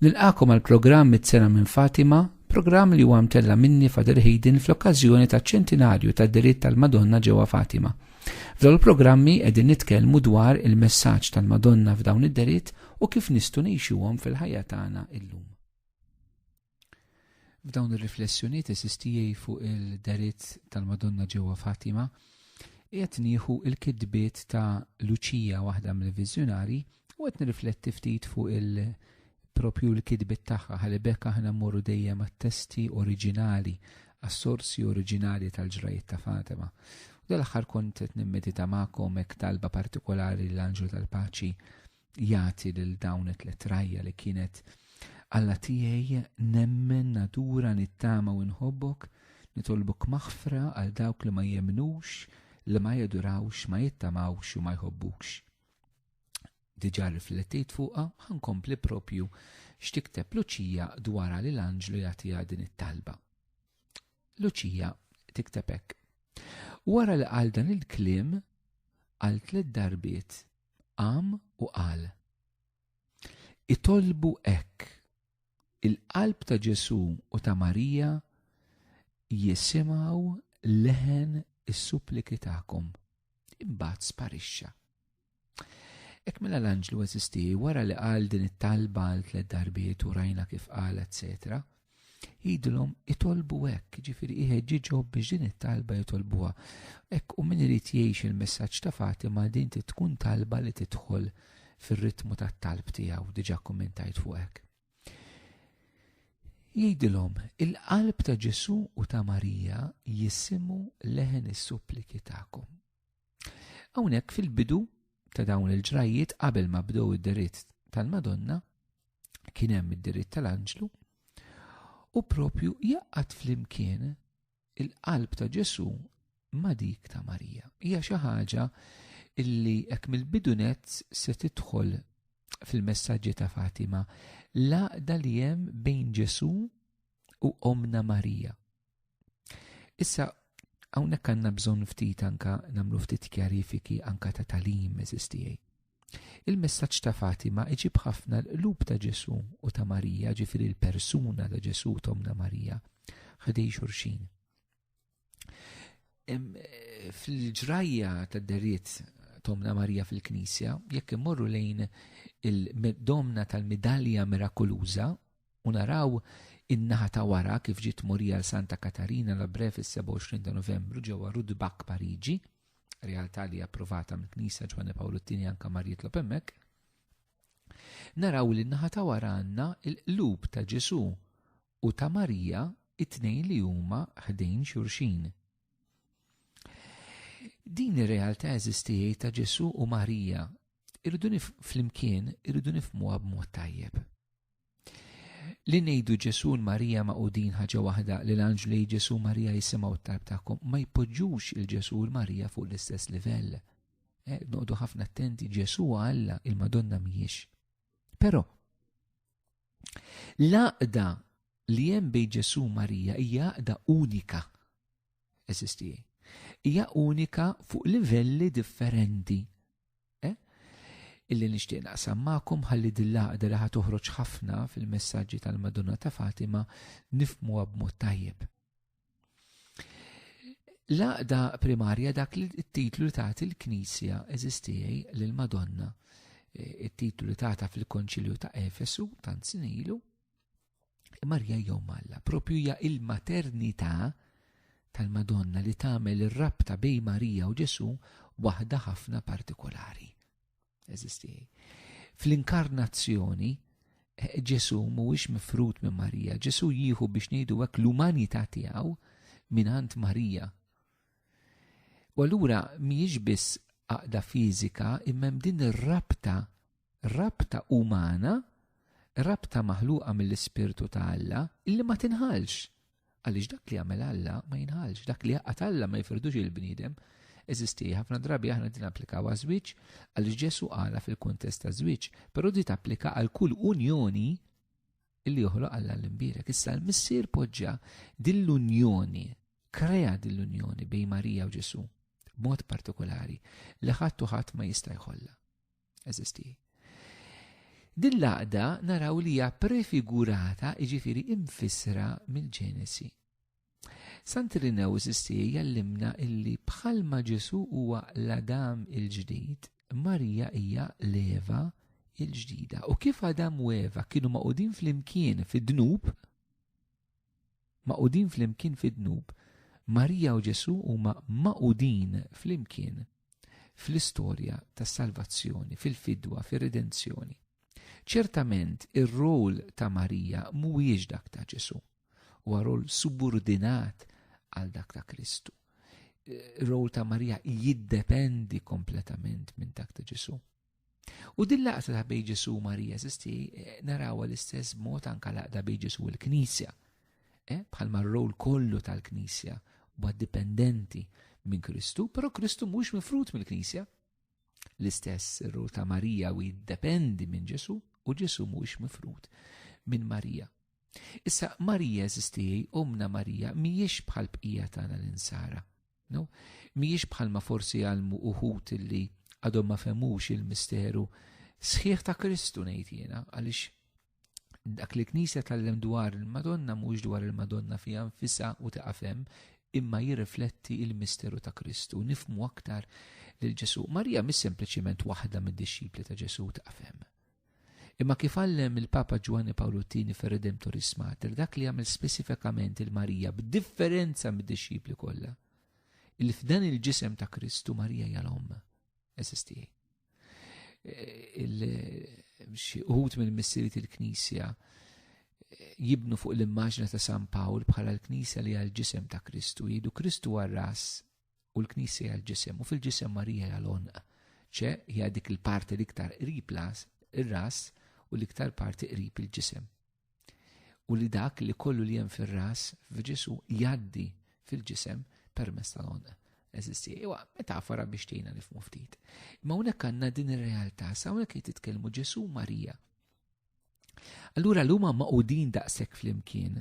Nilqakom għal programm mit-sena minn Fatima, programm li huwa mtella minni Father Hayden fl-okkażjoni ta' ċentinarju ta' diritt tal-Madonna ġewwa Fatima. F'dawn il-programmi qegħdin nitkellmu dwar il-messaġġ tal-Madonna f'dawn id-deritt u kif nistgħu ngħixuhom fil-ħajja tagħna illum. F'dawn ir-riflessjonijiet esistijej fuq il-deriet tal-Madonna ġewwa Fatima, qiegħed nieħu l-kitbiet ta' Luċija waħda mill-viżjonarji u qed nirrifletti ftit fuq il propju l-kitbiet tagħha ħalli b'hekk aħna mmorru dejjem għat-testi oriġinali, għas-sorsi oriġinali tal-ġrajjiet ta' Fatima. U dal-aħħar kont qed nimmedita magħkom hekk talba partikolari l-Anġlu tal-Paċi jagħti lil dawn it-tliet rajja li kienet Alla tiegħi nemmen nadura nittama u nħobbok, nitolbok maħfra għal dawk li ma jemnux, li ma jadurawx, ma jittamawx u ma jħobbukx. Diġà riflettit fuqha ħankompli propju x'tikteb Luċija dwara li l-anġlu jagħtiha din it-talba. Luċija tikteb hekk. Wara li qal dan il-kliem għal tliet darbiet qam u qal. Itolbu hekk. Il-qalb ta' Ġesù u ta' Marija jisimgħu leħen is-suppliki tagħkom. Imbagħad sparixxa. Ek mela l-anġlu eżisti wara li qal din it-talba għal tliet darbiet u rajna kif qal, etc. jidilhom itolbu hekk, ġifiri iħeġġiġhom biex din it-talba jitolbuha. Hekk u min irid jgħix il-messaġġ ta' Fatima din tkun talba li tidħol fir-ritmu tat-talb tiegħu diġà kummentajt fuq hekk. Jgħidilhom, il-qalb ta' Ġesu u ta' Marija jisimu leħen is-suppliki tagħkom. Hawnhekk fil-bidu ta' dawn il-ġrajjiet qabel ma bdew id-deritt tal-Madonna, kien hemm id-deritt tal-anġlu, u propju jaqqat flimkien il-qalb ta' Ġesu ma' dik ta' Marija. Hija xi ħaġa illi hekk mill-bidu net se tidħol fil-messaġġi ta' Fatima l-għaqda li hemm bejn Ġesu u omna Marija. Issa, hawnhekk għandna bżonn ftit anka nagħmlu ftit kjarifiki anka ta' talim eżistijaj. Il-messaġġ ta' Fatima iġib ħafna l-qlub ta' Ġesu u ta' Marija, ġifiri l-persuna ta' Ġesu tomna Marija, ħdej xurxin. Fil-ġrajja ta' deriet tomna Marija fil-Knisja, jekk immorru lejn il-domna tal-midalja mirakuluża, u naraw in-naħa ta' wara kif ġiet tmurija l Santa Katarina la Bre fis-27 ta' Novembru ġewwa Rudbak Pariġi, realtà li approvata mill-Knisja Ġwanni Pawlu t-Tieni anka mar jitlob hemmhekk. Naraw li n-naħa ta' wara għandna l-qlub ta' Ġesu u ta' Marija it-tnejn li huma ħdejn xurxin. Din ir-realtà eżistijiet ta' Ġesu u Marija irridu flimkien irridu nifmuha b'mod tajjeb. Li ngħidu Ġesu u Marija maqudin ħaġa waħda li l-anġlu jgħid Ġesu Marija jisimgħu t-talb tagħkom ma jpoġġux il Ġesu u l-Marija fuq l-istess livell. Eh, noqdu ħafna attenti Ġesu Alla il-Madonna mhijiex. Però l-għaqda li hemm bejn Ġesu Marija hija għaqda unika. Eżisti. Hija unika fuq livelli differenti. Eh? Illi nixtieq naqsam magħkom ħalli dil-laqda li ħatoħroġ ħafna fil-messaġġi tal-Madonna ta' Fatima nifmuha b'mod tajjeb. Laqda primarja dak li t-titlu li tagħti l-Knisja eżistijaj lil Madonna eh, it-titlu li tagħta fil-Konċilju ta' Efesu tant sinilu Marja jew Malla, propju hija il-maternità tal-Madonna li tagħmel ir-rabta bej Marija u Ġesu waħda ħafna partikolari. Eżisti. Fl-inkarnazzjoni, Ġesu mhuwiex mifrut minn Marija, Ġesu jieħu biex ngħidu hekk l-umanità tiegħu mingħand Marija. U allura mhijiex biss għaqda fiżika imma din ir-rabta Rabta umana, rabta maħluqa mill-Ispirtu ta' Alla, illi ma tinħalx. Għaliex dak li jagħmel Alla ma jinħalx, dak li jaqgħad Alla ma jifirdux il-bniedem. Eżisti ħafna drabi aħna din applikaw għaż-żwieġ għaliex Ġesu għala fil-kuntest ta' żwieġ, però di tapplika għal kull unjoni illi joħloq Alla l-imbierek. Issa l-missier poġġa dil-unjoni, krea dil-unjoni bejn Marija u Ġesu, b'mod partikolari, li ħadd u ħadd ma jista' jħollha. eżisti. Din l-għaqda naraw li hija prefigurata iġifiri imfissra mill-Ġenesi. Santirinew eżisti jallimna illi bħalma Ġesu huwa l-Adam il-ġdid, Marija hija l-Eva il-ġdida. U kif Adam u Eva kienu maqudin fl-imkien fid-dnub, Magħqudin flimkien fid-dnub, Marija u Ġesù huma magħqudin flimkien fl-istorja tas-salvazzjoni, fil-fidwa, fir-redenzjoni. Ċertament ir-rol ta' Marija mhuwiex dak ta' Ġesù, huwa rol subordinat għal dak ta' Kristu. Ir-rol ta' Marija jiddependi kompletament minn dak ta' Ġesù. U din laqta ta' bej Ġesu Marija zisti eh, narawa l-istess mod anka laqda bej Ġesu l-Knisja. Eh, bħal marrow kollu tal-Knisja u dipendenti minn Kristu, pero Kristu mhux mifrut mill-Knisja. L-istess ir-rol ta' Marija u jiddependi minn Ġesu u Ġesu mhux mifrut minn Marija. Issa Marija eżistijaj, omna Marija, mhijiex bħal bqija tagħna l-insara. No? Mijiex bħalma forsi għalmu uħut illi għadhom ma femux il-misteru sħiħ ta' Kristu ngħid jiena għaliex dak li knisja tal-lem dwar il-Madonna mhux dwar il-Madonna fija nfisa u taqafem imma jirrifletti il-misteru ta' Kristu, nifmu aktar lil Ġesu. Marija mis sempliċiment waħda mid-disċipli ta' Ġesu taqafem. Imma kif għallem il-Papa Ġwanni Pawlu Tini fir Redemptoris Mater, dak li għamil spesifikament il-Marija b'differenza mid-disċipli kollha, il f'dan il-ġisem ta' Kristu Marija hija l-omm. Eżisti. Xi uħut minn missirit il-Knisja jibnu fuq l-immaġna ta' San Pawl bħala l-Knisja li għal ġisem ta' Kristu, jidu Kristu għal ras u l-Knisja hija l-ġisem u fil-ġisem Marija hija l-onq. ċe hija dik il-parti l-iktar qrib las, ir-ras u l-iktar parti qrib il-ġisem. U li dak li kollu li hemm fir-ras f'Ġesu jaddi fil-ġisem permess tal-onq. Eżisti, iwa, metafora biex tejna nifmu ftit. Ma unek għanna din ir-realtà, sa unek li titkellmu Ġesu Marija. Allura l-huma maqudin daqshekk flimkien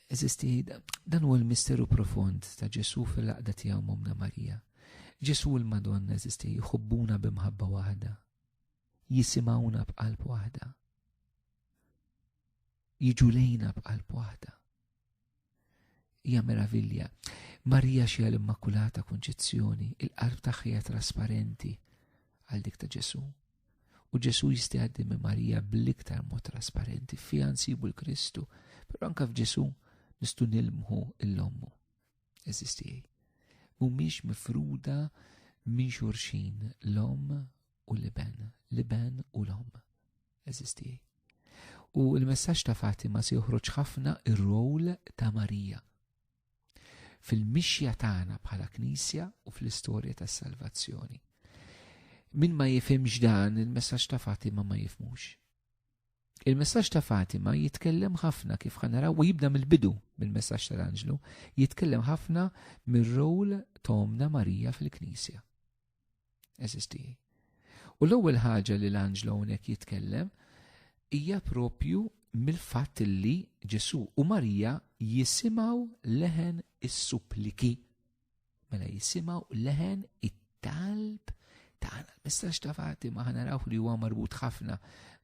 Eżisti, dan huwa l-misteru profond ta' Ġesu fil-laqda tiegħu Momna Marija. Ġesu l-Madonna eżisti jħobbuna b'imħabba waħda. Jisimawna b'qalb waħda. Jiġu lejna b'qalb waħda. hija meravilja. Marija xija l-Immakulata Konċizzjoni, il-qalb tagħha trasparenti għal dik ta' Ġesu. U Ġesu jisti għaddi minn Marija bl-iktar mod trasparenti fija nsibu l-Kristu, però anka f'Ġesu nistu nilmħu l-ommu. Eżistijaj. Mumiex mifruda minn xurxin l-om u l-iben, l-iben u l-om. Eżisti. U l-messaġġ ta' Fatima se joħroġ ħafna ir-rol ta' Marija fil-mixja tagħna bħala Knisja u fl-istorja tas-salvazzjoni. Min ma jifhimx dan il-messaġġ ta' Fatima ma jifmux. Il-messaġġ ta' Fatima jitkellem ħafna kif ħanara u jibda mill-bidu mill-messaġġ tal-Anġlu, jitkellem ħafna mir-rol tomna Marija fil-Knisja. Eżisti. U l-ewwel ħaġa li l-anġlu hawnhekk jitkellem hija propju mill-fatt li Ġesu u Marija jisimaw leħen is-suppliki. Mela jisimaw leħen it-talb tagħna. Messaġġ ta' Fatima ħana raw li huwa marbut ħafna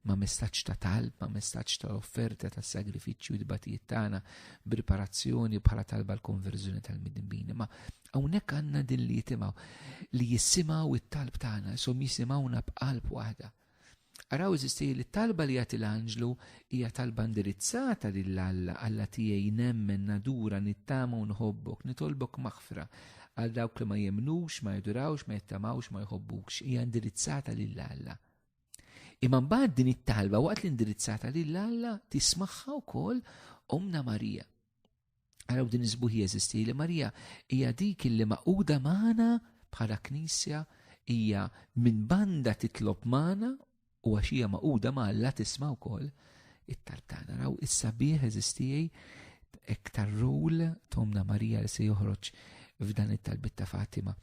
ma' messaġġ ta' talb, ma' messaġġ ta' offerta ta' sagrifiċċju d-batijiet tagħna, preparazzjoni bħala talba l-konverżjoni tal-midinbini. Ma' Hawnhekk għandna din li jitimgħu li jisimgħu it-talb tagħna, som jisimgħuna b'qalb waħda. Araw eżisti li talba li jagħti l-anġlu hija talba indirizzata lil Alla, Alla tiegħi nemmen nadura nittama u nħobbok, nitolbok maħfra għal dawk li ma jemnux, ma jidurawx, ma jittamawx, ma jħobbux, hija indirizzata lil Alla. Imma mbagħad din it-talba waqt li indirizzata lil Alla tismagħha wkoll Omna Marija. Għaraw din iżbuħi jeżisti li Marija hija dik li maquda magħna bħala knisja hija minn banda titlob magħna u għax hija maquda ma' Alla tisma' wkoll it-talb tagħna. Raw issa bih eżistijej iktar rul tomna Marija li se joħroġ f'dan it-talbit ta' Fatima.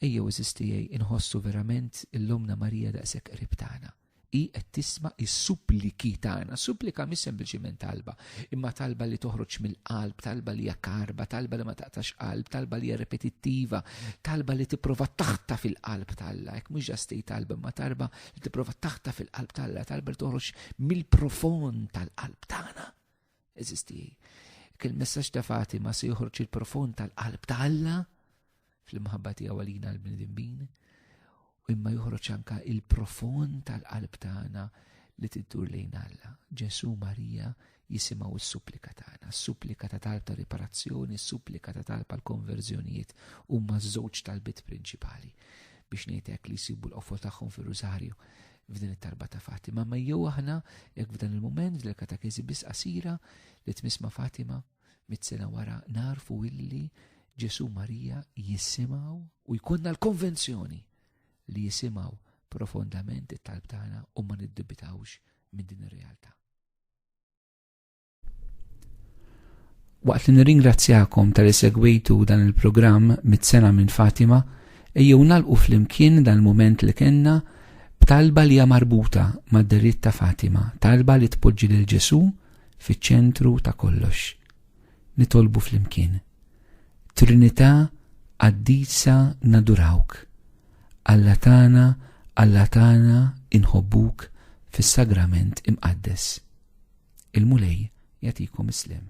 Ejjew eżistijej inħossu verament illumna Marija daqshekk qrib tagħna. Hi qed tisma' s-suppliki tagħna. Supplika mhix sempliċiment talba, imma talba li toħroġ mill-qalb, talba li hija karba, talba li ma taqtax qalb, talba li hija repetittiva, talba li tipprova taħta fil-qalb talla. Hekk mhux ġastej talba, imma talba li tipprova taħta fil-qalb talla, talba li toħroġ mill-profond tal-qalb tagħna. Eżisti. Kien messaġġ ta' Fatima se joħroġ il-profond tal-qalb ta' Alla fl-imħabba tiegħu għalina l-bnedmin u imma joħroġ anka il-profond tal-qalb tagħna li tiddur lejn Alla. Ġesu Marija jisimaw is-supplika tagħna, s-supplika ta' talb ta' riparazzjoni, s-supplika ta' talb għal konverżjonijiet huma żewġ talbiet prinċipali biex ngħidlek li jsibu l-qofol tagħhom fir-Rużarju. f'din it-tarba ta' Fatima, ma jew aħna jekk f'dan il-moment f'dil katakezi biss qasira li tmiss ma' Fatima mit-sena wara narfu illi Ġesu Marija jisimaw u jkunna l-konvenzjoni li jisimaw profondament it-talb tagħna u ma niddubitawx minn din ir-realtà. Waqt li nirringrazzjakom tal segwitu dan il-programm mit-sena minn Fatima, ejjew nalqu flimkien dan il-moment li kenna b'talba li hija marbuta mad-deritt ta' Fatima, talba li tpoġġi lil Ġesu fiċ-ċentru ta' kollox. Nitolbu flimkien. Trinità qaddisa nadurawk. Alla tagħna, Alla tagħna inħobbuk fis-sagrament imqaddes. Il-Mulej jagħtikom is-sliem.